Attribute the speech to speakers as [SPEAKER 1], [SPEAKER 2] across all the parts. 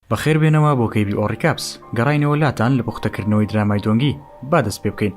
[SPEAKER 1] بەخێر بێنەوە بۆ کەیبی ئۆڕیکاپس گەڕاینەوە لاتان لە پوختەکردنەوەی درامای دۆنگی با دەست پێ بکەین.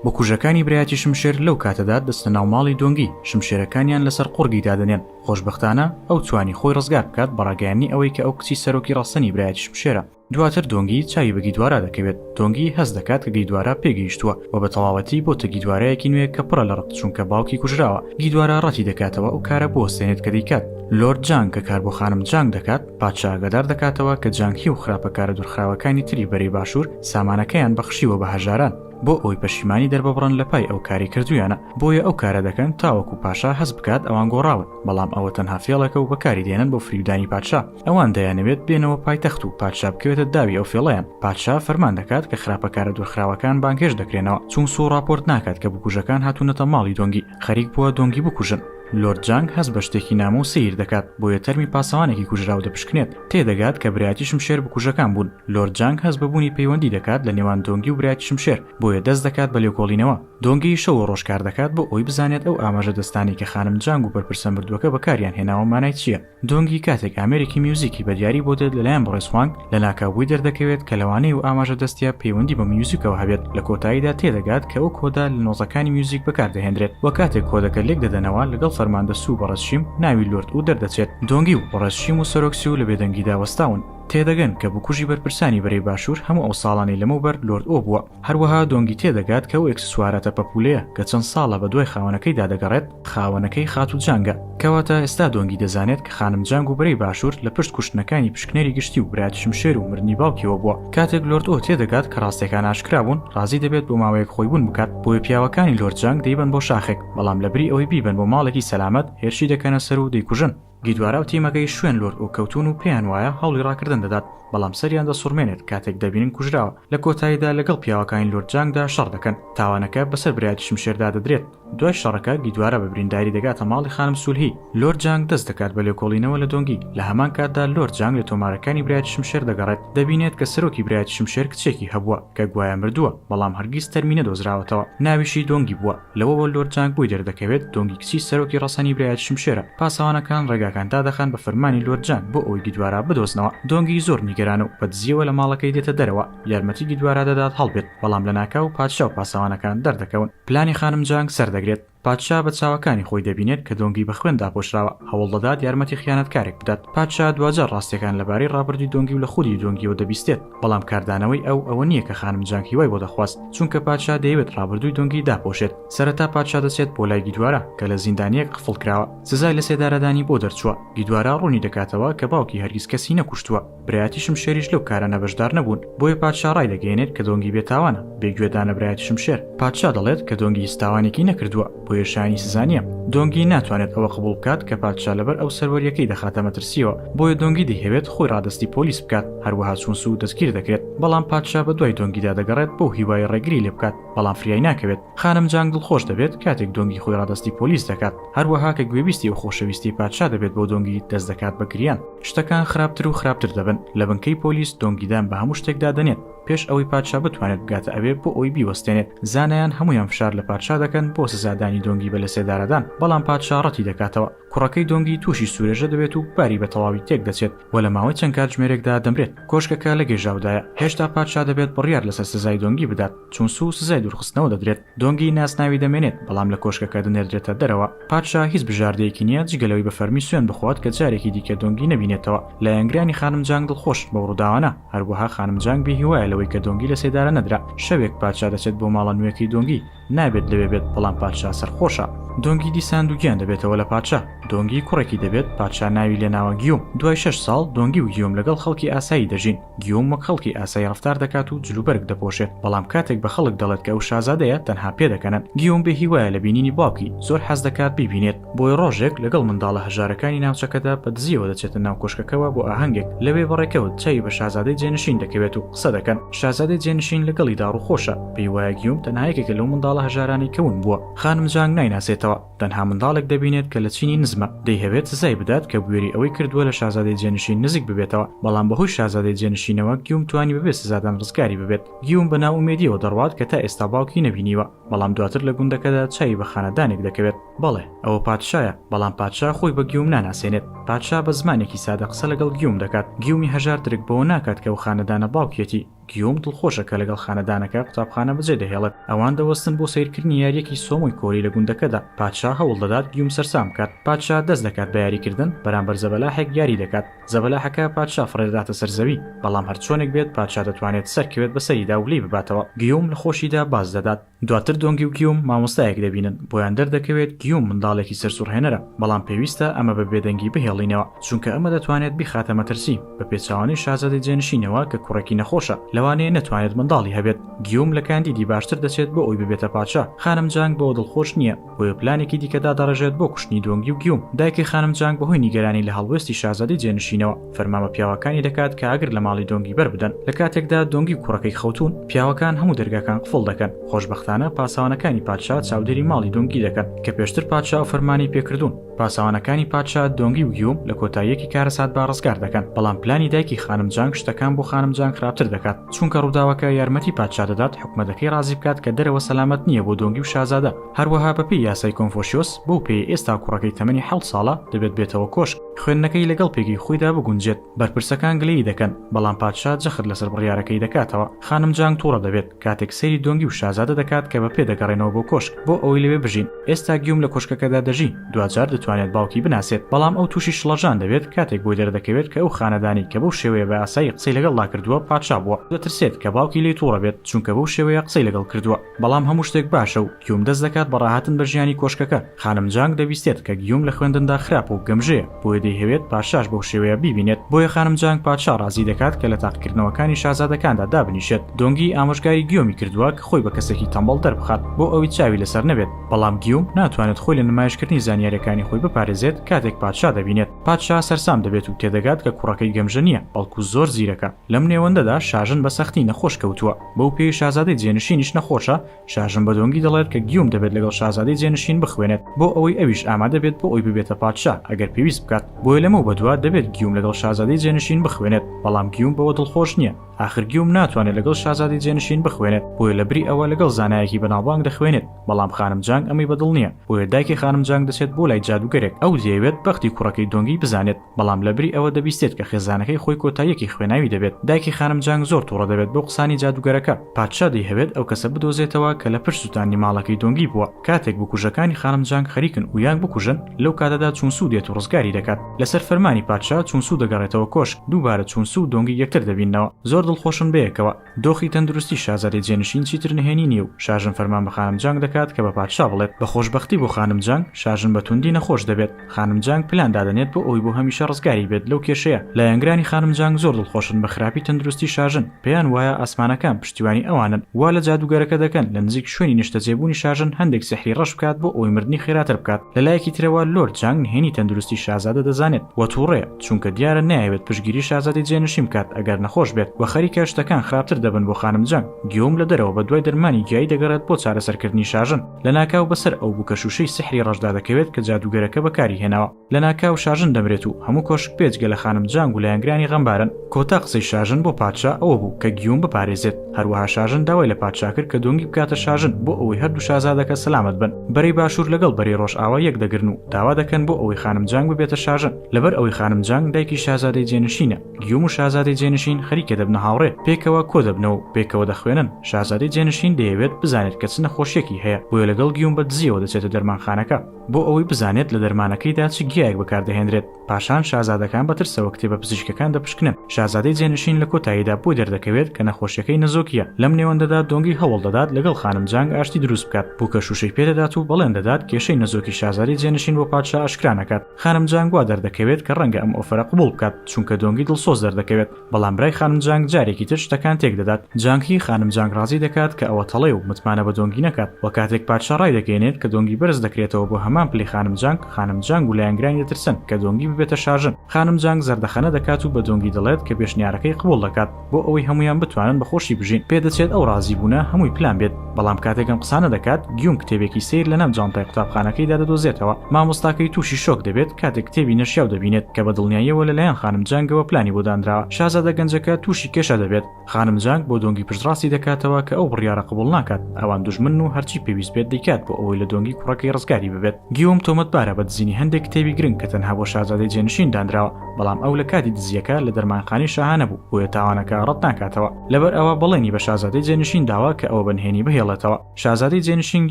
[SPEAKER 1] بکوژەکانی برایەتی شمشێر لەو کاتەدا دەستە ناو ماڵی دۆنگی شمشێرەکانیان لەسەر قوڕگی دادەنێن خۆشبەختانە ئەو توانی خۆی ڕزگار بکات بەڕاگەیاندنی ئەوەی کە ئەو کچی سەرۆکی ڕەسەنی برایەتی شمشێرە دواتر دۆنگی چاوی بە گیدوارا دەکەوێت، دۆنگی هەست دەکات کە گیدوارا پێگەیشتووە و بە تەواوەتی بۆتە گیدوارایەکی نوێ کە پڕە لە ڕق چونکە باوکی کوژراوە، گیدوارا ڕەتی دەکاتەوە ئەو کارە بوەستێنێت کە دەیکات، لۆرد جانگ کە کار بۆ خانم جانگ دەکات، پادشا ئاگادار دەکاتەوە کە جانگ هی و خراپەکارە دوورخراوەکانی تری بەرەی باشوور سامانەکەیان بەخشیوە بە هەژاران بۆ ئەوەی پەشیمانی دەرببڕن لە پای ئەو کارەی کردوویانە، بۆیە ئەو کارە دەکەن تاوەکو پاشا هەست بکات ئەوان گۆڕاون، بەڵام ئەوە تەنها فێڵێکە و بەکاری دێنن بۆ فریودانی پادشا. ئەوان دەیانەوێت بێنەوە پایتەخت و پادشا بکەوێتە داوی ئەو فێڵەیان پادشا فەرمان دەکات کە خراپەکارە دورخراوەکان بانگهێشت دەکرێنەوە چون سوو ڕاپۆرت ناکات کە بکوژەکان هاتوونەتە ماڵی دۆنگی خەریک بووە دۆنگی بکوژن لۆرد جانگ هەست بە شتێکی نامۆ و سەیر دەکات بۆیە تەرمی پاسەوانێکی کوژراو دەپشکنێت تێدەگات کە برایەتی شمشێر بکوژەکان بوون لۆرد جانگ هەست بە بوونی پەیوەندی دەکات لە نێوان دۆنگی و برایەتی شمشێر بۆیە دەست دەکات بە لێکۆڵینەوە دۆنگی شەو و ڕۆژ کار دەکات بۆ ئەوەی بزانێت ئەو ئاماژەدەستانەی کە خانم جانگ و بەرپرسە مردووەکە بەکاریان هێناوە مانای چییە دۆنگی کاتێک ئامێرێکی میوزیکی بە دیاری بۆ دێت لەلایەن بەڕێز خوانگ، لە ناکاوبووی دەردەکەوێت کە لەوانەیە و ئاماژە دەستیە پەیوەندی بە میوزیکەوە هەبێت، لە کۆتاییدا تێدەگات کە ئەو کۆدە لە نۆتەکانی میوزیک بەکاردەهێندرێت و کاتێک کۆدەکە لێک دەدەنەوە لەگەڵ فەرماندە سو و بەڕێز شیم ناوی لۆرد ئو دەردەچێت، دۆنگی و بەڕێز شیم و سەرۆک سو لە بێدەنگیدا وەستاون تێدەگەن کە بکوژی بەرپرسانی بەرەی باشوور هەموو ئەو ساڵانەی لەمەوبەر لۆرد ئۆ بووە. هەروەها دۆنگی تێدەگات کە ئەو ئێکسسواراتە پەپوولەیە کە چەند ساڵە بەدوای خاوەنەکەیدا دەگەڕێت، خاوەنەکەی خاتوو جانگە. کەواتە ئێستا دۆنگی دەزانێت کە خانم جانگ و برای باشوور لە پشت کوشتنەکانی پشکنەری گشتی و برایەت شمشێر و مردنی باوکیەوە بووە. کاتێک لۆرد ئۆ تێدەگات کە ڕاستیەکان ئاشکرا بوون، ڕازی دەبێت بۆ ماوەیەک خۆیبوون بکات، بۆیە پیاوەکانی لۆرد جانگ دەیبەن بۆ شاخێک، بەڵام لەبری ئەوەی بیبەن بۆ ماڵێکی سەلامەت، هێرشی دەکەنە سەر و دەیکوژن. گیدوارا و تیمەکەی شوێن لۆرد ئۆک کەوتوون و پێیان وایە هەوڵی ڕاکردن دەدات، بەڵام سەریان دەسوڕمێنێت کاتێک دەبینن کوژراوە، لە کۆتاییدا لەگەڵ پیاوەکانی لۆرد جانگدا شەڕ دەکەن، تاوانەکە بەسەر برایەتی شمشێردا دەدرێت، دوای شەڕەکە گیدوارا بە برینداری دەگاتە ماڵی خانم سولهی، لۆرد جانگ دەست دەکات بە لێکۆڵینەوە لە دۆنگی، لە هەمان کاتدا لۆرد جانگ لە تۆمارەکانی برایەتی شمشێر دەگەڕێت، دەبینێت کە سەرۆکی برایەتی شمشێر کچێکی هەبووە کە گوایە مردووە، بەڵام هەرگیز تەرمی نەدۆزراوەتەوە، ناویشی دۆنگی بووە. لەوەوە لۆرد جانگ بوی دەردەکەوێت دۆنگی کچی سەرۆکی ڕەسەنی برایەتی شمشێرە، پاسەوانەکان ڕێگاکان دادەخەن بە فەرمانی لۆرد جانگ بۆ ئەوەی گیدوارا بدۆزنەوە، دۆنگی زۆر نیگەرانە و بە دزیەوە لە ماڵەکەی دێتە دەرەوە یارمەتی گیدوارا دەدات هەڵبێت، بەڵام لەناکاو پادشا و پاسەوانەکان دەردەکەون پلانی خانم جانگ سەردەگرێت، پادشا بە چاوەکانی خۆی دەبینێت کە دۆنگی بە خوێن داپۆشراوە هەوڵدەدات یارمەتی خیانەتکارێک بدات، پادشا دواجار ڕاستیەکان لەبارەی ڕابردوی دۆنگی و لە خودی دۆنگیەوە دەبیستێت، بەڵام کاردانەوەی ئەو ئەوە نییە کە خانم جانگ هیوای بۆ دەخواست چونکە پادشا دەیەوێت ڕابردووی دۆنگی داپۆشێت سەرەتا پادشا دەچێت بۆ لای گیدوارا کە لە زیندانییەک قفڵ کراوە سزای لەسێدارەدانی بۆ دەرچووە گیدوارا ڕوونی دەکاتەوە کە باوکی هەرگیز کەسی نەکوشتووە برایەتی شمشێریش لەو کارانە بەشدار نەبوون بۆیە پادشا ڕایدەگەیەنێت کە دۆنگی بێتاوانە بێ گوێدانە برایەتی شمشێر پادشا دەڵێت کە دۆنگی هیچ تاوانێکی نەکردووە. بۆیە شایەنی سزا نییە. دۆنگی ناتوانێت ئەوە قبوڵ بکات کە پادشا لەبەر ئەو سەروەرییەکەی دەخاتە مەترسییەوە، بۆیە دۆنگی دەیهەوێت خۆی ڕادەستی پۆلیس بکات، هەروەها چونسو دەستگیر دەکرێت، بەڵام پادشا بەدوای دۆنگیدا دەگەڕێت بەو هیوایەی ڕێگری لێ بکات، بەڵام فریای ناکەوێت. خانم جانگ دڵخۆش دەبێت کاتێک دۆنگی خۆی ڕادەستی پۆلیس دەکات، هەروەها کە گوێبیستی ئەو خۆشەویستیی پادشا دەبێت بۆ دۆنگی، دەست دەکات بە گریان. شتەکان خراپتر و خراپتر دەبن، لە بنکەی پۆلیس دۆنگی دان بە هەموو شتێکدا دەنێت، پێش ئەوەی پادشا بتوانێت بگاتە ئەوێ بۆ ئەوی بیوەستێنێت زانایان هەمویان فشار لە پادشا دەکەن بۆ سزادانی دۆنگی بە لەسێدارەدان بەڵام پادشا ڕەتی دەکاتەوە کوڕەکەی دۆنگی تووشی سورێژە دەبێت و باری بە تەواوی تێک دەچێت و لە ماوەی چەند کاتژمێرێکدا دەمرێت کۆشکەکە لە گێژاودایە هێشتا پادشا دەبێت بڕیار لەسەر سزای دۆنگی بدات چونسو سزای دورخستنەوە دەدرێت دۆنگی ناسناوی دەمێنێت، بەڵام لە کۆشکەکە دەنێردرێتە دەرەوە. پادشا هیچ بژاردەیەکی نییە جگە لەوەی بە فەرمی سوێند بخوات کە جارێکی دیکە دۆنگی نەبینێتەوە. لایەنگرانی خانم جانگ دڵخۆشن بەو ڕووداوانە، هەروەها خانم جانگ بێهیوایە لەوەی کە دۆنگی لە سێدارە نەدرا. شەوێک پادشا دەچێت بۆ ماڵە نوێکەی دۆنگی، نابێت لەوێ بێت، بەڵام پادشا سەرخۆشە. دۆنگی دیسان دووگیان دەبێتەوە لە پادشا. دۆنگی کوڕێکی دەبێت، پادشا ناوی لێناوە گیۆم. دوای شەش ساڵ، دۆنگی و گیۆم لەگەڵ خەڵکی ئاسایی دەژین. گیوم وەک خەڵکی ئاسایی ڕەفتار دەکات و جلوبەرگ دەپۆشێت، بەڵام کاتێک بە خەڵک دەڵێت کە ئەو شازادەیە، تەنها پێدەکەنن. گیوم بێ هیوایە لە بینینی باوکی، زۆر حەز دەکات بیبینێت، بۆیە ڕۆژێک لەگەڵ منداڵە هەژارەکانی ناوچەکەدا بە دزییەوە دەچێتە ناو کۆشکەکەوە بۆ ئاهەنگێک، لەوێ بە ڕێکەوت چاوی بە شازادەی جێنشین دەکەوێت و قسە دەکەن. شازادەی جێنشین لەگەڵیدا ڕووخۆشە، پێی وایە گیوم تەنها یەکێکە لەو منداڵە هەژارانەی کە ون بووە. خانم جانگ نایناسێتەوە. تەنها منداڵێک دەبینێت کە لە چینی نزمە، دەیهەوێت سزای بدات کە بوێری ئەوەی کردووە لە شازادەی جێنشین نزیک ببێتەوە، بەڵام بەهۆی شازادەی جێنشینەوە گیوم توانی بەبێ سزادان ڕزگاری ببێت. گیوم بە نائومێدییەوە دەڕوات کە تا ئێستا باوکی نەبینیوە، بەڵام دواتر لە گوندەکەدا چاوی بە خانەدانێک دەکەوێت. بەڵێ، ئەوە پادشایە، بەڵام پادشا خۆی بە گیوم ناناسێنێت. پادشا بە زمانێکی سادە قسە لەگەڵ گیوم دەکات، گیومی هەژار درک بەوە ناکات کە ئەو خانەدانە باوکیەتی، گیوم دڵخۆشە کە لەگەڵ خانەدانەکە قوتابخانە بەجێدەهێڵێت. ئەوان دەوەستن بۆ سەیرکردنی یارییەکی سۆمۆی کۆری لە گوندەکەدا. پادشا هەوڵ دەدات گیوم سەرسام بکات. پادشا دەست دەکات بە یاریکردن، بەرامبەر زەبەلاحێک یاری دەکات. زەبەلاحەکە پادشا فڕێدەداتە سەر زەوی. بەڵام هەرچۆنێک بێت پادشا دەتوانێت سەرکەوێت بەسەریدا و لێی بباتەوە. گیوم لە خۆشیدا باز دەدات. دواتر دۆنگی و گیوم مامۆستایەک دەبینن، بۆیان دەردەکەوێت گیوم منداڵێکی سەرسوڕهێنەرە، بەڵام پێویستە ئەمە بە بێدەنگی بهێڵینەوە، چونکە ئەمە دەتوانێت بیخاتە مەترسی، بە پێچەوانەی شازادەی جێنشینەوە کە کوڕێکی نەخۆشە، لەوانەیە نەتوانێت منداڵی هەبێت. گیوم لە کاندیدی باشتر دەچێت بۆ ئەوی ببێتە پادشا، خانم جانگ بەوە دڵخۆش نییە، بۆیە پلانێکی دیکە دادەڕێژێت بۆ کوشتنی دۆنگی و گیوم، دایکی خانم جانگ بەهۆی نیگەرانی لە هەڵوێستی شازادەی جێنشینەوە، فەرمان بە پیاوەکانی دەکات کە ئاگر لە ماڵی دۆنگی بەربدەن، لە کاتێکدا دۆنگی و کوڕەکەی خەوتوون، پیاوەکان هەموو دەرگاکان قفڵ دەکەن، خۆشبەختانە پاسەوانەکانی پادشا چاودێری ماڵی دۆنگی دەکەن، کە پێشتر پادشا ئەو فەرمانەی پێکردوون. پاسەوانەکانی پادشا دۆنگ یوگ یوم لە کۆتاییەکی کارەساتدا ڕزگار دەکەن، بەڵام پلانی دایکی خانم جانگ شتەکان بۆ خانم جانگ خراپتر دەکات، چونکە ڕووداوەکە یارمەتی پادشا دەدات حکومەتەکەی ڕازی بکات کە دەرەوە سەلامەت نییە بۆ دۆنگی و شازادە، هەروەها بەپێی یاسای کۆنفۆشیۆس بەو پێیە ئێستا کوڕەکەی تەمەنی حەوت ساڵە دەبێت بێتەوە کۆشک، خوێندنەکەی لەگەڵ پێگەی خۆیدا بگونجێت، بەرپرسەکان گلەیی دەکەن، بەڵام پادشا جەخت لەسەر بڕیارەکەی دەکاتەوە، خانم جانگ توڕە دەبێت. کاتێک سەیری دۆنگی و شازادە دەکات کە بە پێ دەگەڕێنەوە بۆ کۆشک بۆ ئەوەی لەوێ بژین، ئێستا گیوم لە کۆشکەکەدا دەژی، دواجار دەتوانێت باوکی بناسێت، بەڵام ئەو تووشی شڵەژان دەبێت کاتێک بۆی دەردەکەوێت کە ئەو خانەدانەی کە بەو شێوەیە بە ئاسایی قسەی لەگەڵدا کردووە پادشا بووە، دەترسێت کە باوکی لێی توڕە بێت چونکە بەو شێوەیە قسەی لەگەڵ کردووە، بەڵام هەموو شتێک باشە و. گیوم دەست دەکات بە ڕاهاتن بە ژیانی کۆشکەکە، خانم جانگ دەبیستێت کە گیوم لە خوێندندا خراپە و گەمژەیە، بۆیە دەیهەوێت پادشاش بەو شێوەیە بیبینێت، بۆیە خانم جانگ پادشا ڕازی دەکات کە لە تاقیکردنەوەکانی شازادەکاندا دابنیشێت، دۆنگی ئامۆژگاری گیومی کردووە کە خۆی بە کەسێکی تەمبەڵ دەربخات بۆ ئەوەی چاوی لەسەر نەبێت، بەڵام گیوم ناتوانێت خۆی لە نمایشکردنی زانیارییەکانی خۆی بپارێزێت کاتێک پادشا دەبینێت، پادشا سەرسام دەبێت و تێدەگات کە کوڕەکەی گەمژە نییە، بەڵکو زۆر زیرەکە، لەم نێوەندەدا شاژن بە سەختی نەخۆش کەوتووە، بەو پێی شازادەی جێنشینیش نەخۆشە، شاژن بە دۆنگی دەڵێت کە گیوم دەبێت لەگەڵ شازادەی جێنشین بخوێنێت بۆ ئەوەی ئەویش ئامادە بێت بۆ ئەوی ببێتە پادشا ئەگەر پێویست بکات بۆیە لەمەو بەدوا دەبێت گیوم لەگەڵ شازادەی جێنشین بخوێنێت بەڵام گیوم بەوە دڵخۆش نییە ئاخر گیوم ناتوانێت لەگەڵ شازادەی جێنشین بخوێنێت بۆیە لە بری ئەوە لەگەڵ زانایەکی بەناوبانگ دەخوێنێت بەڵام خانم جانگ ئەمەی بەدڵ نییە بۆیە دایکی خانم جانگ دەچێت بۆ لای جادووگەرێک ئەو دەیەوێت بەختی کوڕەکەی دۆنگی بزانێت بەڵام لەبری ئەوە دەبیستێت کە خێزانەکەی خۆی کۆتاییەکی خوێناوی دەبێت، دایکی خانم جانگ زۆر توڕە دەبێت بەو قسانی جادوگەرەکە، پادشا دەیهەوێت ئەو کەسە بدۆزێتەوە کە لە پشت سوتاندنی ماڵەکەی دۆنگی بووە، کاتێک بکوژەکانی خانم جانگ خەریکن ئویانگ بکوژن، لەو کاتەدا چون سو دێت و ڕزگاری دەکات، لەسەر فەرمانی پادشا چون سو دەگەڕێتەوە کۆشک، دووبارە چون سو و دۆنگی یەکتر دەبیننەوە، زۆر دڵخۆشن بەیەکەوە. دۆخی تەندروستی شازادەی جێنشین چیتر نهێنی نییە و شاژن فەرمان بە خانم جانگ دەکات کە بە پادشا بڵێت، بە خۆشبەختی بۆ خانم جانگ، شاژن بە توندی نەخۆش دەبێت. خانم جانگ پلان دادەنێت بۆ ئەوەی بۆ هەمیشە ڕزگاری بێت لەو کێشەیە. لایەنگرانی خانم جانگ زۆر دڵخۆشن بە خراپی تەندروستی شاژن، پێیان وایە ئاسمانەکان پشتیوانی ئەوانن، وا لە جادووگەرەکە دەکەن لە نزیک شوێنی نیشتەجێبوونی شاژن هەندێک سیحری ڕەش بکات بۆ ئەوەی مردنی خێراتر بکات. لە لایەکی ترەوە لۆرد جانگ نهێنی تەندروستی شازادە دەزانێت و تووڕەیە. چونکە دیارە نایەوێت پشتگیری شازادەی جێنشین بکات ئەگەر نەخۆش بێت و خەریکە شتەکان خراپتر دەبن بۆ خانم جەنگ گیۆم لە دەرەوە بەدوای دەرمانی گیایی دەگەڕێت بۆ چارەسەرکردنی شاژن لەناکاو بەسەر ئەو بوکە شوشەی سیحری ڕەشدا دەکەوێت کە جادوگەرەکە بەکاری هێناوە لەناکاو شاژن دەمرێت و هەموو کۆشک بێجگە لە خانم جانگ و لایەنگرانی غەمبارن کۆتا قسەی شاژن بۆ پادشا ئەوە بوو کە گیۆم بپارێزێت هەروەها شاژن داوای لە پادشا کرد کە دۆنگی بکاتە شاژن بۆ ئەوەی هەردوو شازادەکە سەلامەت بن بەرەی باشوور لەگەڵ بەرەی ڕۆژئاوا یەک دەگرن و داوا دەکەن بۆ ئەوەی خانم جانگ ببێتە شاژن لەبەر ئەوەی خانم جانگ دایکی شازادەی جێنشینە، گیوم و شازادەی جێنشین خەریکە دەبنە هاوڕێ، پێکەوە کۆ دەبنەوە و پێکەوە دەخوێنن، شازادەی جێنشین دەیەوێت بزانێت کە چ نەخۆشییەکی هەیە، بۆیە لەگەڵ گیوم بە دزییەوە دەچێتە دەرمانخانەکە، بۆ ئەوەی بزانێت لە دەرمانەکەیدا چ گیایەک بەکاردەهێنرێت، پاشان شازادەکان بە ترسەوە کتێبە پزیشکیەکان دەپشکنن، شازادەی جێنشین لە کۆتاییدا بۆی دەردەکەوێت کە نەخۆشیەکەی نەزۆکییە، لەم نێوەندەدا دۆنگی هەوڵدەدات لەگەڵ خانم جانگ ئاشتی دروست بکات، بووکە شووشەی پێدەدات و بەڵێن دەدات کێشەی نەزۆکی شازادەی جێنشین بۆ پادشا ئاشکرا نەکات. خانم جانگ وا دەردەکەوێت کە ڕەنگە ئەم ئۆفەرە قبوڵ بکات، چونکە دۆنگی دڵسۆز دەردەکەوێت، بەڵام برای خانم جانگ جارێکی تر شتەکان تێکدەدات، جانگ هی خانم جانگ ڕازی دەکات کە ئەوە تەڵەیە و متمانە بە دۆنگی نەکات، وە کاتێک پادشا ڕایدەگەیەنێت کە دۆنگی بەرز دەکرێتەوە بۆ هەمان پلەی خانم جانگ، خانم جانگ و لایەنگرانی دەترسن کە دۆنگی ببێتە شاژن، خانم جانگ زەردەخەنە دەکات و بە دۆنگی دەڵێت کە پێشنیارەکەی قبوڵ دەکات. بۆ ئەوەی هەمویان بتوانن بە خۆشی بژین پێدەچێت ئەو ڕازی بوونە هەمووی پلان بێت بەڵام کاتێکم قسانە دەکات گیوم کتێبێکی سیر لە ناو جانتای قوتابخانەکەی دادەدۆزێتەوە مامۆستاکەی تووشی شۆک دەبێت کاتێک کتێبی نەشیاو دەبینێت کە بە دڵنیاییەوە لەلایەن خانم جانگەوە پلانی بۆ دانرا شازادە گەنجەکە تووشی کێشە دەبێت خانم جانگ بۆ دۆنگی پشتڕاستی دەکاتەوە کە ئەو بڕیاڕە قبوڵ ناکات ئەوان دوژمن و هەرچی پێویست بێت دەیکات بۆ ئەوەی لە دۆنگی کوڕەکەی ڕزگاری ببێت گیوم تۆمەتبارە بە دزینی هەندێک کتێبی گرنگ کە تەنها بۆ شازادەی جێنشین دانراوە بەڵام ئەو لە کاتی دزییەکە لە دەرمانخانەی شاهانە بوو، بۆیە تاوانەکە ڕەت ناکاتەوە. لەبەر ئەوە بەڵێنی بە شازادەی جێنشین داوە کە ئەوە بە نهێنی بهێڵێتەوە. شازادەی جێنشین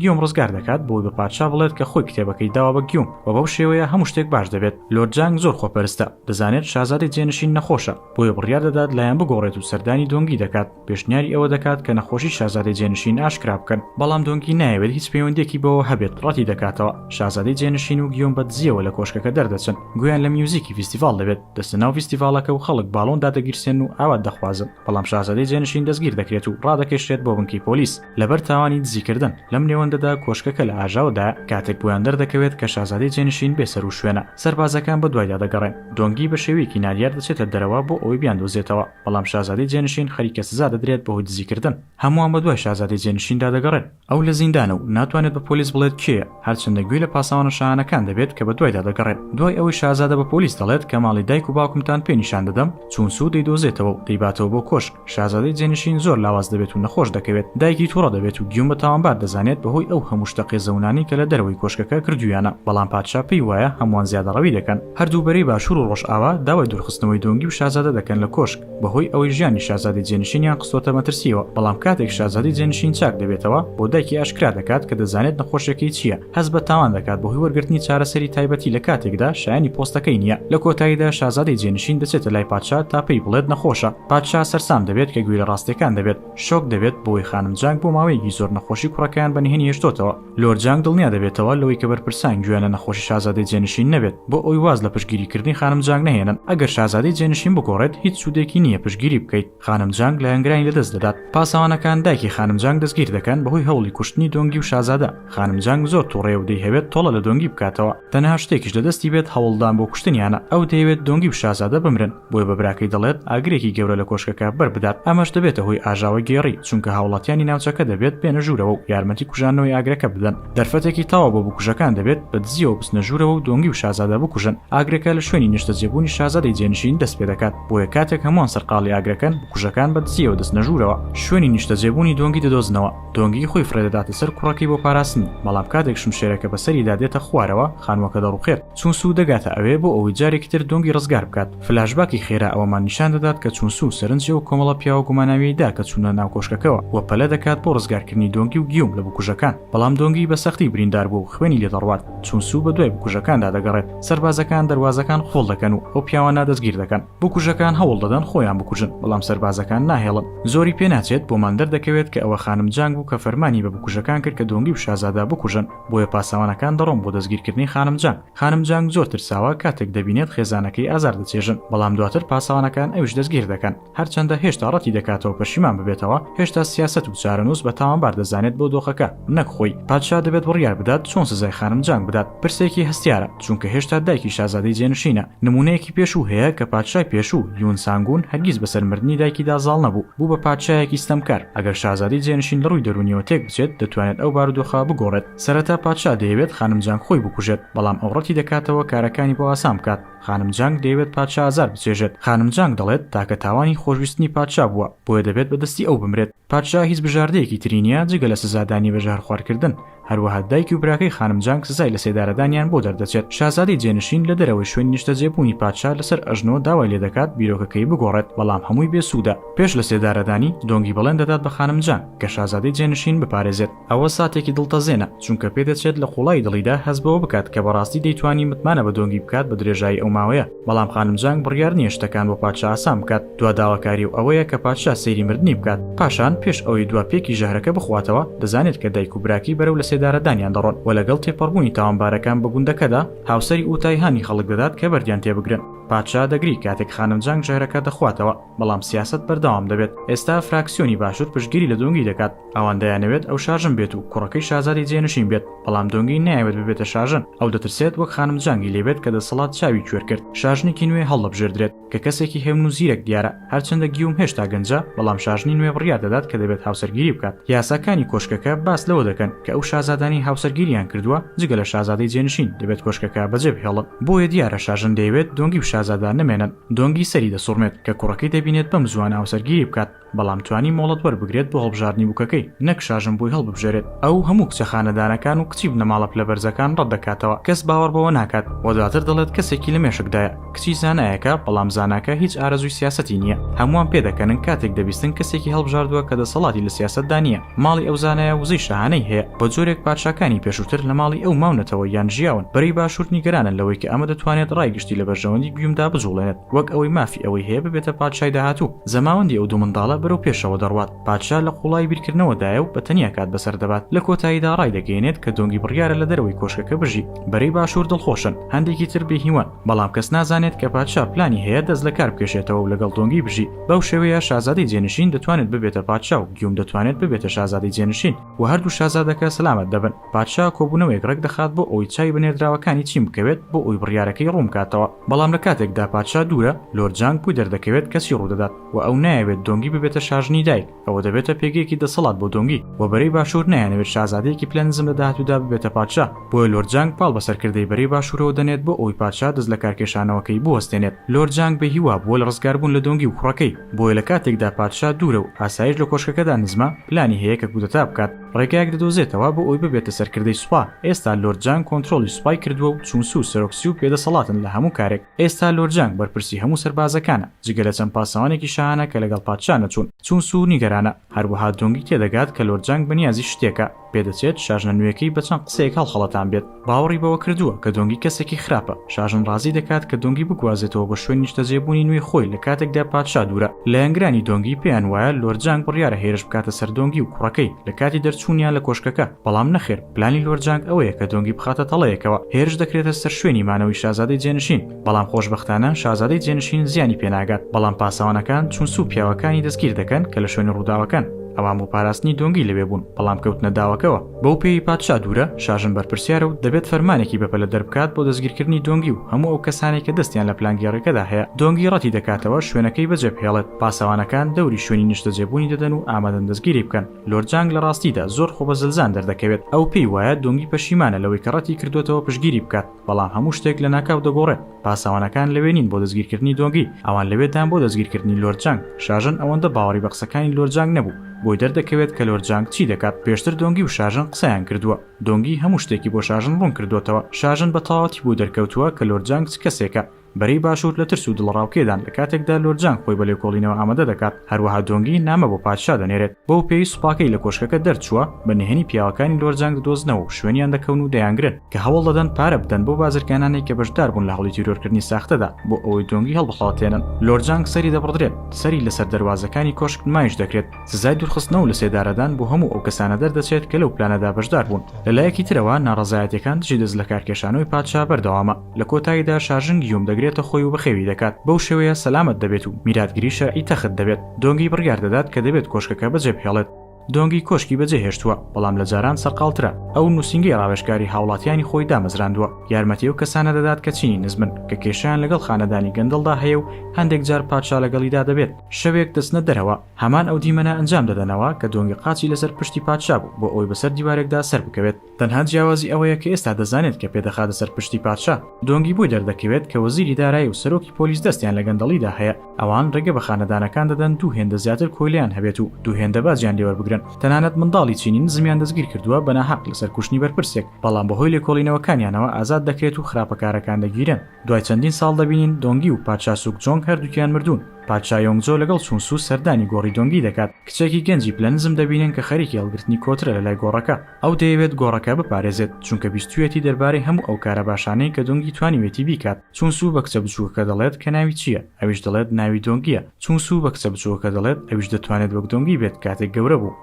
[SPEAKER 1] گیۆم ڕزگار دەکات بۆی بە پادشا بڵێت کە خۆی کتێبەکەی داوە بە گیۆم و بەو شێوەیە هەموو شتێک باش دەبێت. لۆرد جانگ زۆر خۆپەرستە، دەزانێت شازادەی جێنشین نەخۆشە، بۆیە بڕیار دەدات لایان بگۆڕێت و سەردانی دۆنگی دەکات. پێشنیاری ئەوە دەکات کە نەخۆشی شازادەی جێنشین ئاشکرا بکەن، بەڵام دۆنگی نایەوێت هیچ پەیوەندییەکی بەوەوە هەبێت، ڕەتی دەکاتەوە. شازادەی جێنشین و گیۆم بە دزییەوە لە کۆشکەکە دەردەچن، گوێیان لە میوزیکی فیستیڤاڵ دەبێت، دەچنە ناو فیستیڤاڵەکە و خەڵک باڵۆن دادەگیرسێنن و ئاوات دەخوازن، بەڵام شازادەی جێنشین دەستگیر دەکرێت و ڕادەکێشرێت بۆ بنکەی پۆلیس لەبەر تاوانی دزیکردن. لەم نێوەندەدا کۆشکەکە لە ئاژاوەدایە، کاتێک بۆیان دەردەکەوێت کە شازادەی جێنشین بێسەروشوێنە، سەربازەکان بەدوایدا دەگەڕێن، دۆنگی بە شێوەیەکی نادیار دەچێتە دەرەوە بۆ ئەوەی بیاندۆزێتەوە. بەڵام شازادەی جێنشین خەریکە سزا دەدرێت بەهۆی دزیکردن. هەمووان بەدوای شازادەی جێنشیندا دەگەڕێن. ئەو لە زیندانە و ناتوانێت بە پۆلیس بڵێت کێیە، هەرچەندە گوێی لە پاسەوانە شاهانەکان دەبێت کە بەدوایدا دەگەڕێن. دوای ئەوەی شازادە بە پۆلیس دەڵێت کە ماڵی دایک و باوکمتان پێ نیشان دەدەم، چونسو دەیدۆزێتەوە و دەیباتەوە بۆ کۆشک. شازادەی جێنشین زۆر لاواز دەبێت و نەخۆش دەکەوێت. دایکی تووڕە دەبێت و گیون بە تاوانبار دەزانێت بەهۆی ئەو هەموو شتە قێزەونانەی کە لە دەرەوەی کۆشکەکە کردوویانە. بەڵام پادشا پێی وایە هەمووان زیادەڕەوی دەکەن. هەردوو بەرەی باشوور و ڕۆژئاوا داوای دوورخستنەوەی دۆنگی و شازادە دەکەن لە کۆشک، بەهۆی ئەوەی ژیانی شازادەی جێنشینیان خستۆتە مەترسییەوە، بەڵام کاتێک شازادەی جێنشین چاک دەبێتەوە، بۆ دایکی ئاشکرا دەکات کە دەزانێت نەخۆشیەکەی چییە، هەست بە تاوان دەکات بەهۆی وەرگرتنی چارەسەری تایبەتی لە کاتێکدا شایەنی پۆستەکەی نییە، لە کۆتاییدا شازادەی جێنشین دەچێتە لای پادشا تا پێی بڵێت نەخۆشە، پادشا سەرسام دەبێت کە گوێی لە ڕاستیەکان دەبێت، شۆک دەبێت بەوەی خانم جانگ بۆ ماوەیەکی زۆر نەخۆشی کوڕەکەیان بە نهێنی هێشتۆتەوە. لۆرد جانگ دڵنیا دەبێتەوە لەوەی کە بەرپرسان گوێیان لە نەخۆشی شازادەی جێنشین نەبێت بۆ ئەوی واز لە پشتگیریکردنی خانم جانگ نەهێنن ئەگەر شازادەی جێنشین بگۆڕێت هیچ سوودێکی نییە پشتگیری بکەیت خانم جانگ لایەنگرانی لەدەست دەدات پاسەوانەکان دایکی خانم جانگ دەستگیر دەکەن بەهۆی هەوڵی کوشتنی دۆنگی و شازادە خانم جانگ زۆر توڕەیە و دەیهەوێت تۆڵە لە دۆنگی بکاتەوە تەنها شتێکیش لە دەستی بێت هەوڵدان بۆ کوشتنیانە ئەو دەیەوێت دۆنگی و شازادە بمرن بۆیە بە براکەی دەڵێت ئاگرێکی گەورە لە کۆشکەکە بەربدات ئەمەش دەبێتە هۆی ئاژاوەی گێڕی چونکە هاوڵاتیانی ناوچەکە دەبێت بێنە ژوورەوە و یارمەتی کوژاندنەوەی ئاگرەکە بدەن دەرفەتێکی تەواو بۆ بکوژەکان دەبێت بە دزیەوە بچنە ژوورەوە و دۆنگی و شازادە بکوژن ئاگرەکە لە شوێنی نیشتەجێبوونی شازادەی جێنشین دەست پێ دەکات بۆیە کاتێک هەمووان سەرقاڵی ئاگرەکەن بکوژەکان بە دزیەوە دەچنە ژوورەوە شوێنی نیشتەجێبوونی دۆنگی دەدۆزنەوە دۆنگی خۆی فڕێدەداتە سەر کوڕەکەی بۆ پاراستنی، بەڵام کاتێک شمشێرەکە بەسەریدا دێتە خوارەوە، خانووەکە دەڕووخێت، چونسوو دەگاتە ئەوێ بۆ ئەوەی جارێکی تر دۆنگی ڕزگار بکات، فلاشباکی خێرا ئەوەمان نیشان دەدات کە چونسوو سەرنجی ئەو کۆمەڵە پیاوە گوماناویەی دا کە چوونە ناو کۆشکەکەوە و پەلە دەکات بۆ ڕزگارکردنی دۆنگی و گیوم لە بکوژەکان، بەڵام دۆنگی بە سەختی بریندار بووە و خوێنی لێ دەڕوات، چونسوو بەدوای بکوژەکاندا دەگەڕێت، سەربازەکان دەروازەکان قوفڵ دەکەن و ئەو پیاوانە دەستگیر دەکەن. بکوژەکان هەوڵ دەدەن خۆیان بکوژن بەڵام سەربازەکان ناهێڵن زۆری پێ ناچێت بۆمان دەردەکەوێت کە ئەوە خانم جانگ بوو کە فەرمانی بە بکوژەکان کرد کە دۆنگی و شازادە بکوژن بۆیە پاسەوانەکان دەڕۆن بۆ دەستگیرکردنی خانم جانگ خانم جانگ زۆر ترساوە کاتێک دەبینێت خێزانەکەی ئازار دەچێژن بەڵام دواتر پاسەوانەکان ئەویش دەستگیر دەکەن هەرچەندە هێشتا ڕەتی دەکاتەوە پەشیمان ببێتەوە هێشتا سیاسەت و چارەنووس بە تاوانبار دەزانێت بۆ دۆخەکە نەک خۆی پادشا دەبێت بڕیار بدات چۆن سزای خانم جانگ بدات پرسێکی هەستیارە چونکە هێشتا دایکی شازادەی جێنشینە، نموونەیەکی پێشوو هەیە کە پادشای پێشوو، یون سانگون، هەرگیز بەسەر مردنی دایکیدا زاڵ نەبوو، بوو بە پادشایەکی ستەمکار. ئەگەر شازادەی جێنشین لە ڕووی دەروونییەوە تێک بچێت، دەتوانێت ئەو بارودۆخە بگۆڕێت. سەرەتا پادشا دەیەوێت خانم جانگ خۆی بکوژێت، بەڵام ئەو ڕەتی دەکاتەوە کارەکانی بۆ ئاسان بکات. خانم جانگ دەیەوێت پادشا ئازار بچێژێت. خانم جانگ دەڵێت، تاکە تاوانی خۆشویستنی پادشا بووە، بۆیە دەبێت بە دەستی ئەو بمرێت. پادشا هیچ بژاردەیەکی تری نییە جگە لە سزادانی بە ژەهرخوارکردن، هەروەها دایکی و براکەی خانم جانگ سزای لەسێدارەدانیان بۆ دەردەچێت. شازادەی جێنشین لە دەرەوەی شوێنی نیشتەجێبوونی پادشا لەسەر ئەژنۆ داوای لێدەکات بیرۆکەکەی بگۆڕێت، بەڵام هەمووی بێسوودە. پێش لەسێدارەدانی، دۆنگی بەڵێن دەدات بە خانم جانگ کە شازادەی جێنشین بپارێزێت. ئەوە ساتێکی دڵتەزێنە، چونکە پێدەچێت لە قوڵایی دڵیدا هەست بەوە بکات کە بەڕاستی دەیتوانی متمانە بە دۆنگی بکات بە درێژایی ئەو ماوەیە، بەڵام خانم جانگ بڕیار نییە شتەکان بۆ پادشا ئاسان بکات، دوا داواکاری و ئەوەیە کە پادشا سەیری مردنی بکات، پاشان پێش ئەوەی دوا پێکی ژەهرەکە بخواتەوە، دەزانێت کە دایک و براکەی بەرەو لەسێدارەدانیان دەڕۆن و لەگەڵ تێپەڕبوونی تاوانبارەکان بە گوندەکەدا، هاوسەری ئوتای هانی خەڵک دەدات کە بەردیان تێبگرن. پادشا دەگری کاتێک خانم جانگ ژەهرەکە دەخواتەوە، بەڵام سیاسەت بەردەوام دەبێت، ئێستا فراکسیۆنی باشوور پشتگیری لە دۆنگی دەکات، ئەوان دەیانەوێت ئەو شاژن بێت و کوڕەکەی شازادەی جێنشین بێت، بەڵام دۆنگی نایەوێت ببێتە شاژن، ئەو دەترسێت وەک خانم جانگی لێ بێت کە دەسەڵات چاوی کوێر کرد، شاژنێکی نوێ هەڵدەبژێردرێت، کە کەسێکی هێمن و زیرەک دیارە، هەرچەندە گیوم هێشتا گەنجە، بەڵام شاژنی نوێ بڕیار دەدات کە دەبێت هاوسەرگیری بکات. یاساکانی کۆشکەکە باس لەوە دەکەن کە ئەو شازادانەی هاوسەرگیریان کردووە، جگە لە شازادەی جێنشین، دەبێت کۆشکەکە بەجێ بهێڵن، بۆیە دیارە شاژن دەیەوێت دۆنگی و شازادە نەمێنن، دۆنگی سەری دەسوڕمێت کە کوڕەکەی دەبینێت بەم زووانە هاوسەرگیری بکات، بەڵام توانی مۆڵەت وەربگرێت بۆ هەڵبژاردنی بووکەکەی، نەک شاژن بۆی هەڵببژێرێت. ئەو هەموو کچە خانەدانەکان و کچی بنەماڵە پلە بەرزەکان ڕەت دەکاتەوە، کەس باوەڕ بەوە ناکات و دواتر دەڵێت کەسێکی لە مێشکدایە، کچی زانایەکە، بەڵام زاناکە هیچ ئارەزووی سیاسەتی نییە. هەمووان پێدەکەنن کاتێک دەبیستن کەسێکی هەڵبژاردووە کە دەسەڵاتی لە سیاسەتدا نییە. ماڵی ئەو زانایە وزەی شاهانەی هەیە، بە جۆرێک پادشاکانی پێشووتر لە ماڵی ئەو ماونەتەوە یان ژیاون. بەرەی باشوور نیگەرانن لەوەی کە ئەمە دەتوانێت ڕای گشتی لە بەرژەوەندی گیومدا بجوڵێنێت. وەک ئەوەی مافی ئەوەی هەیە ببێتە پادشای داهاتوو، زەماوەندی ئەو دوو منداڵە بەرەو پێشەوە دەڕوات، پادشا لە قوڵایی بیرکردنەوەدایە و بە تەنیا کات بەسەر دەبات، لە کۆتاییدا ڕایدەگەیەنێت کە دۆنگی بڕیارە لە دەرەوەی کۆشکەکە بژی، بەرەی باشوور دڵخۆشن، هەندێکی تر بێهیوان، بەڵام کەس نازانێت کە پادشا پلانی هەیە دەست لە کار بکێشێتەوە و لەگەڵ دۆنگی بژی، بەو شێوەیە شازادەی جێنشین دەتوانێت ببێتە پادشا و گیوم دەتوانێت ببێتە شازادەی جێنشین و هەردوو شازادەکە سەلامەت دەبن. پادشا کۆبوونەوەیەک ڕێکدەخات بۆ ئەوەی چاوی بە نێردراوەکانی چین بکەوێت بۆ ئەوی بڕیارەکەی ڕوونبکاتەوە بەڵام لە کاتێکدا پادشا دوورە لۆرد جانگ بوی دەردەکەوێت کەچی ڕوودەدات و ئەو نایەوێت دۆنگی ببێتە شاژنی دایک ئەوە دەبێتە پێگەیەکی دەسەڵات بۆ دۆنگی و بەرەی باشوور نایانەوێت شازادەیەکی پلە نزم لە داهاتوودا ببێتە پادشا بۆیە لۆرد جانگ پاڵ بە سەرکردەی بەرەی باشوورەوە دەنێت بۆ ئەوەی پادشا دەست لەکارکێشانەوەکەی بوەستێنێت لۆرد جانگ بێ هیوا بووە لە ڕزگاربوون لە دۆنگی و کوڕەکەی بۆیە لە کاتێکدا پادشا دوورە و ئاسایش لە کۆشکەکەدا نزمە پلانی هەیە کە کودەتا بکات ڕێگایەک دەدۆزێتەوە بۆ ئەوی ببێتە سەرکردەی سوپا ئێستا لۆرد جانگ کۆنترۆڵی سوپای کردووە و چون سو سەرۆک سیوک بێدەسەڵاتن لە هەموو کارێک ئێستا لۆرد جانگ بەرپرسی هەموو سەربازەکانە جگە لە چەند پاسەوانێکی شاهانە کە لەگەڵ پادشا نەچوون چون سو نیگەرانە هەروەها دۆنگی تێدەگات کە لۆرد جانگ بەنیازی شتێکە پێدەچێت شاژنە نوێکەی بە چەند قسەیەک هەڵخەڵەتان بێت باوەڕی بەوە کردووە کە دۆنگی کەسێکی خراپە، شاژن ڕازی دەکات کە دۆنگی بگوازێتەوە بۆ شوێن نیشتەجێبوونی نوێی خۆی لە کاتێکدا پادشا دوورە. لایەنگرانی دۆنگی پێیان وایە لۆرد جانگ بڕیارە هێرش بکاتە سەر دۆنگی و کوڕەکەی لە کاتی دەرچوونیان لە کۆشکەکە، بەڵام نەخێر، پلانی لۆرد جانگ ئەوەیە کە دۆنگی بخاتە تەڵەیەکەوە، هێرش دەکرێتە سەر شوێنی مانەوەی شازادەی جێنشین. بەڵام خۆشبەختانە شازادەی جێنشین زیانی پێناگات، بەڵام پاسەوانەکان چونسو و پیاوەکانی دەستگیر دەکەن کە لە شوێنی ڕووداوەکەن، ئەوان بۆ پاراستنی دۆنگی لەوێ بوون، بەڵام کەوتنە داوەکەوە، بەو پێیەی پادشا دوورە، شاژن بەرپرسیارە و دەبێت فەرمانێکی بەپەلە دەربکات بۆ دەستگیرکردنی دۆنگی و هەموو ئەو کەسانەی کە دەستیان لە پلانگێڕییەکەدا هەیە، دۆنگی ڕەتی دەکاتەوە شوێنەکەی بەجێبهێڵێت، پاسەوانەکان دەوری شوێنی نیشتەجێبوونی دەدەن و ئامادەن دەستگیری بکەن، لۆر جانگ لە ڕاستیدا زۆر خۆبەزلزان دەردەکەوێت، ئەو پێی وایە دۆنگی پەشیمانە لەوەی کە ڕەتی کردووەتەوە پشتگیری بکات. بەڵام هەموو شتێک لەناکاو دەگۆڕێت، پاسەوانەکان لەوێ نین بۆ دەستگیرکردنی دۆنگی، ئەوان لەوێ دان بۆ دەستگیرکردنی لۆرد جانگ، شاژن ئەوەندە باوەڕی بە قسەکانی لۆرد جانگ نەبوو، بۆی دەردەکەوێت کە لۆرد جانگ چی دەکات، پێشتر دۆنگی و شاژن قسەیان کردووە، دۆنگی هەموو شتێکی بۆ شاژن ڕوون کردۆتەوە، شاژن بە تەواوەتی بۆی دەرکەوتووە کە لۆرد جانگ چ کەسێکە، بەرەی باشوور لە ترس و دڵەڕاوکێدان لە کاتێکدا لۆرد جانگ خۆی بە لێکۆڵینەوە ئامادە دەکات، هەروەها دۆنگی نامە بۆ پادشا دەنێرێت، بەو پێی سوپاکەی لە کۆشکەکە دەرچووە بە نهێنی پیاوەکانی لۆرد جانگ دەدۆزنەوە و شوێنیان دەکەون و دەیانگرن، کە هەوڵ دەدەن پارە بدەن بەو بازرگانانەی کە بەشدار بوون لە هەوڵی تیرۆرکردنی ساختەدا بۆ ئەوەی دۆنگی هەڵبخەڵەتێنن. لۆرد جانگ سەری دەبڕدرێت، سەری لەسەر دەروازەکانی کۆشک نمایش دەکرێت، سزای دوورخستنەوە و لەسێدارەدان بۆ هەموو ئەو کەسانە دەردەچێت کە لەو پلانەدا بەشدار بوون. لەلایەکی ترەوە ناڕەزایەتییەکان دژی دەستلەکارکێشانەوەی پادشا بەردەوامە. لە کۆتاییدا شاژن گیوم دەگرێتە خۆی و بەخێوی دەکات، بەو شێوەیە سەلامەت دەبێت و میراتگری شەرعی تەخت دەبێت. دۆنگی بڕیار دەدات کە دەبێت کۆشکەکە بەجێبهێڵێت. دۆنگی کۆشکی بەجێهێشتووە، بەڵام لە جاران سەرقاڵترە. ئەو نووسینگەی ڕاوێژکاری هاوڵاتیانی خۆی دامەزراندووە، یارمەتی ئەو کەسانە دەدات کە چینی نزمن، کە کێشەیان لەگەڵ خانەدانی گەندەڵدا هەیە و هەندێک جار پادشا لەگەڵیدا دەبێت. شەوێک دەچنە دەرەوە، هەمان ئەو دیمەنە ئەنجام دەدەنەوە کە دۆنگی قاچی لەسەر پشتی پادشا بوو بۆ ئەوەی بەسەر دیوارێکدا سەربکەوێت. تەنها جیاوازی ئەوەیە کە ئێستا دەزانێت کە پێدەخاتە سەر پشتی پادشا. دۆنگی بۆی دەردەکەوێت کە وەزیری دارایی و سەرۆکی پۆلیس دەستیان لە گەندەڵیدا هەیە، ئەوان ڕێگە بە خانەدانەکان دەدەن دوو هێندە زیاتر کۆیلەیان هەبێت و دوو هێندە باجیان لێوەربگرن. تەنانەت منداڵی چینی نزمیان دەستگیرکردووە بە ناحەق لەسەر کوشتنی بەرپرسێک، بەڵام بەهۆی لێکۆڵینەوەکانیانەوە ئازاد دەکرێت و خراپەکارەکان دەگیرێن. دوای چەندین ساڵ دەبینین دۆنگی و پادشا سوکجۆنگ هەردووکیان مردوون. پادشا یۆنگجۆ لەگەڵ چون سو سەردانی گۆڕی دۆنگی دەکات، کچێکی گەنجی پلە نزم دەبینن کە خەریکی هەڵگرتنی کۆترە لەلای گۆڕەکە. ئەو دەیەوێت گۆڕەکە بپارێزێت، چونکە بیستوویەتی دەربارەی هەموو ئەو کارە باشانەی کە دۆنگی توانیوێتی بیکات، چون سوو بە کچە بچووکەکە دەڵێت کە ناوی چییە، ئەویش دەڵێت ناوی دۆنگییە، چون سوو بە کچە بچووکەکە دەڵێت ئەویش دەتوانێت وەک دۆنگی بێت کاتێک گەورە بوو.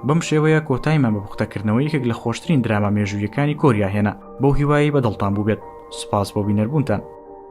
[SPEAKER 1] بەم شێوەیە کۆتایمان بە پوختەکردنەوەی یەکێک لە خۆشترین دراما مێژووییەکانی کۆریا هێنا، بەو هیوایەی بە دڵتان بووبێت. سوپاس بۆ بینەربوونتان.